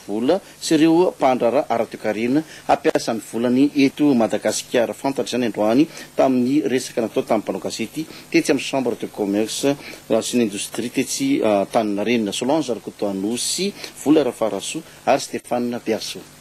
vola sy ireo mpandraharaha ara-toekarena hampiasa ny volany eto Madagasikara. Fantatra izany androany tamin'ny resaka natao tamin'ny mpanao gazety tetsy amin'ny Chambre de Commerce sy ny Indostria tetsy Antaninarenina. Solange Rakotoanosy, Vola Rafarasoa ary Stéphane Beasoa.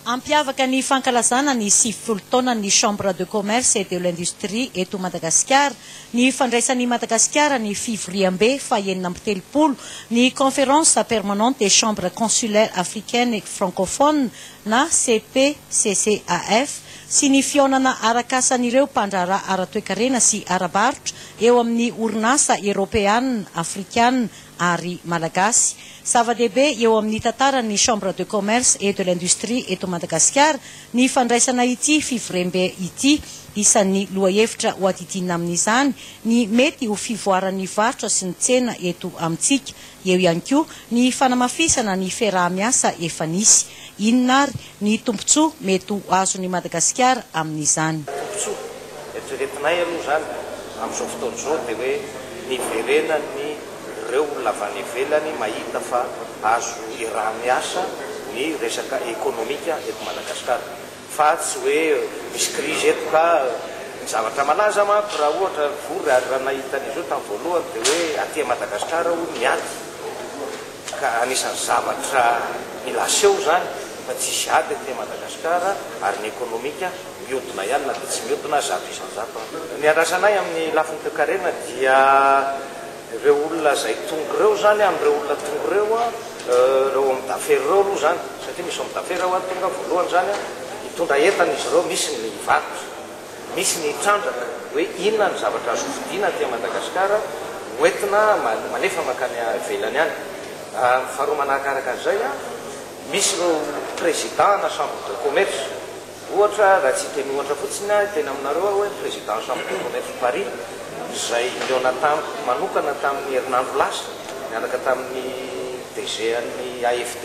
Hampiavaka ny fankalazana ny sivifolo taonan'ny Chambre de Commerce et de l'Industrie eto Madagasikara ny fandraisan'i Madagasikara ny fivoriambe fahenina amby telopolo ny Conférence Permanente des Chambres Consulaires Africaines et Francophones na CPCCAF sy ny fihaonana arakasan'ireo mpandraharaha ara-toekarena sy ara-barotra eo amin'ny Orinasa Eoropeana, Afrikana ary Malagasy. Zava-dehibe eo amin'ny tantaran'ny Chambre de Commerce et de l'Industrie eto Madagasikara ny fandraisana ity fivorembe ity. Isan'ny lohahevitra hoadidiana amin'izany ny mety ho fivoaran'ny varotra sy ny tsena eto amintsika. Eo ihany koa ny fanamafisana ny fiaraha-miasa efa nisy. Inona ary ny tombontsoa mety ho azon'i Madagasikara amin'izany. Tombontsoa? Eritreretinay aloha izany amin'izao fotoana izao dia hoe ny hiverenan'ny ireo olona avy any ivelany mahita fa azo iaraha-miasa ny resaka ekonomika eto Madagasikara fa tsy hoe misy krizy eto ka ny zavatra malaza manko raha ohatra vory ary raha nahita an'izao tamin'ny voalohany dia hoe aty Madagasikara hono ny ady ka anisan'ny zavatra mila aseho izany fa tsisy ady eto Madagascar ary ny ekonomika miodina ihany na dia tsy miodina zato isan-jato an. Ny andrasana ahy amin'ny lafiny toekarena dia ireo olona izay tonga ireo izany an, ireo olona tonga ireo an, ireo homme d'affaires ireo aloha izany satria misy homme d'affaires ao an tonga voalohany izany an, hitondra entana izy ireo, misy ny hivarotra. Misy ny hitrandraka hoe inona ny zavatra azo vidiana aty Madagasikara ho entina malefa mankany ivelany any. Faharoa manakaraka an'izay, misy ireo président na chambre de commerce. Ohatra, raha tsy hiteny ohatra fotsiny aho, hiteny aminareo aho hoe président ny chambre de commerce Paris izay nihaona tamiko manokana tamin'ny herinandro lasa, niaraka tamin'ny DG an'ny AFD.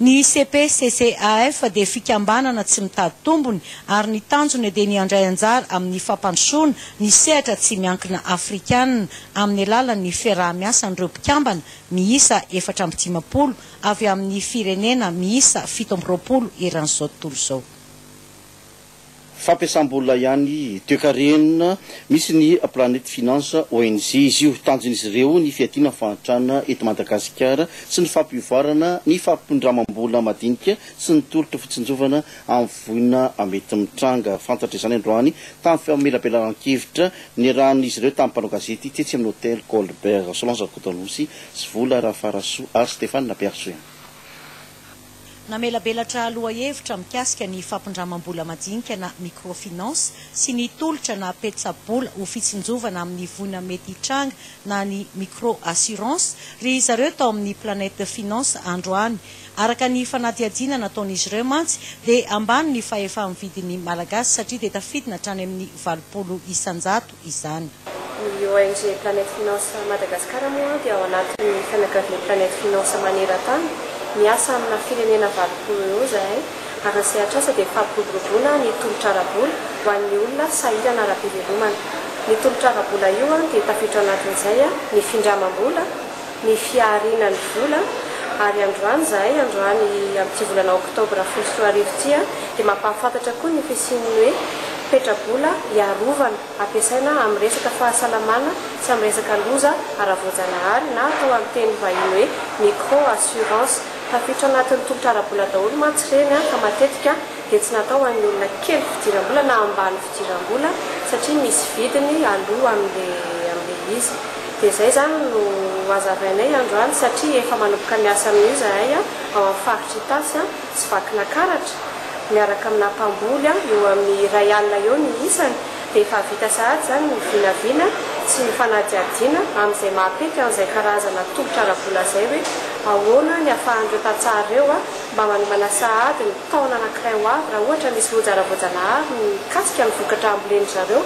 Ny CPCCAF dia fikambanana tsy mitady tombony ary ny tanjony dia ny handray anjara amin'ny fampandrosoana ny sehatra tsy miankina afrikanina amin'ny alalan'ny fiaraha-miasan'ireo mpikambana miisa efatra amby dimampolo avy amin'ny firenena miisa fito amby roapolo eran'izao tontolo izao. Fampiasam-bola ihany toekarena misy ny Planet Finance ONG izy io. Tanjon'izy ireo ny fiadiana ny fahantrana eto Madagasikara sy ny fampivoarana ny fampindramam-bola madinika sy ny tolotra fitsinjovana amin'ny voina mety mitranga. Fantatra izany androany tamin'ny famelabelaran-kevitra niarahan'izy ireo tamin'ny mpanao gazety tetsy amin'ny Hotel Colbert. Solange Rakotoanosy sy Vola Rafarasoa ary Stéphane Bergin. Namelabelatra lohahevitra mikasika ny fampindramam-bola madinika na microfinance sy ny tolotra na petsa-bola ho fitsinjovana amin'ny voina mety hitranga na ny micro assurance ry zareo tao amin'ny Planète Finance androany. Araka ny fanadihadiana nataon'izy ireo mantsy dia ambany ny fahefa-mividin'ny Malagasy satria dia tafidina hatrany amin'ny valopolo isan-jato. izany. Ny ONG Planète Finance Madagascar moa dia ao anatin'ny fianakavian'ny Planète Finance maneran-tany, miasa amina firenena valopolo eo izahay ary ny sehatr'asa dia ny fampiroboroboana ny tolotra ara-bola ho an'ny olona sahirana ara-pivelomana. Ny tolotra ara-bola io dia tafiditra ao anatin'izay ny findramam-bola, ny fiahariana ny vola ary androany zahay androany amin'ity volana oktobra folo sy roa arivo ity dia mampahafantatra koa ny fisian'ny hoe petra-bola hiarovana ampiasaina amin'ny resaka fahasalamana sy amin'ny resaka loza ara-voajanahary na atao amin'ny teny vahiny hoe micro assurance tafiditra anatin'ny tolotra ara-bola daholo mantsy ireny ka matetika dia tsy natao ho an'ny olona kely fidiram-bola na ambany fidiram-bola satria misy vidiny aloa amin'ilay amin'ilay izy. Dia izay izany no hazavainay androany satria efa manomboka miasa amin'io izahay ao amin'ny faritra Itasy sy Vakinakaratra miaraka aminà mpamboly eo amin'ny iray alina eo ny isany dia efa vita sahady izany ny vinavina sy ny fanadihadiana amin'izay maha-pety an'izay karazana tolotra ara-bola izay hoe ahoana ny afahan'ireo tantsaha ireo mba manomana sahady ny taona anankiray ho avy raha ohatra misy loja ara-voajanahary mikasika ny vokatra hambolen-dry zareo.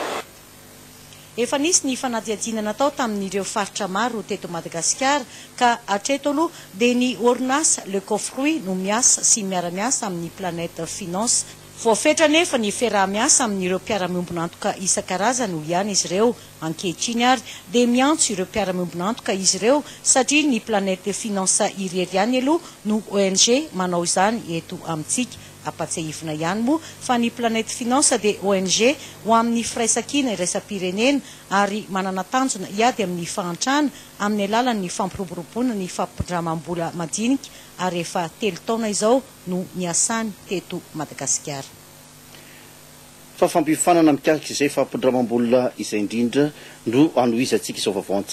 Efa nisy ny fanadihadiana natao tamin'ireo faritra maro teto Madagasikara ka hatreto aloha dia ny orinasa Le Cofruit no miasa sy miara-miasa amin'ny Planet Finance. Voafetra anefa ny fiaraha-miasa amin'ireo mpiara-miombon'antoka isan-karazany, hoy ihany izy ireo, Ankehitriny ary dia miantso ireo mpiara-miombon'antoka izy ireo satria ny Planète de Finance irery ihany aloha no ONG manao izany eto amintsika. Ampatsiahivina ihany moa fa ny Planète Finance dia ONG ho amin'ny firaisankina iraisam-pirenena ary manana tanjona hiady amin'ny fahantrana amin'ny alalan'ny fampiroboroboana ny fampindramam-bola madinika ary efa telo taona izao no niasany teto Madagasikara. fa fampiofanana mikasika izay fampindramam-bola izay indrindra no hanohizantsika izao vaovao an-tsaina.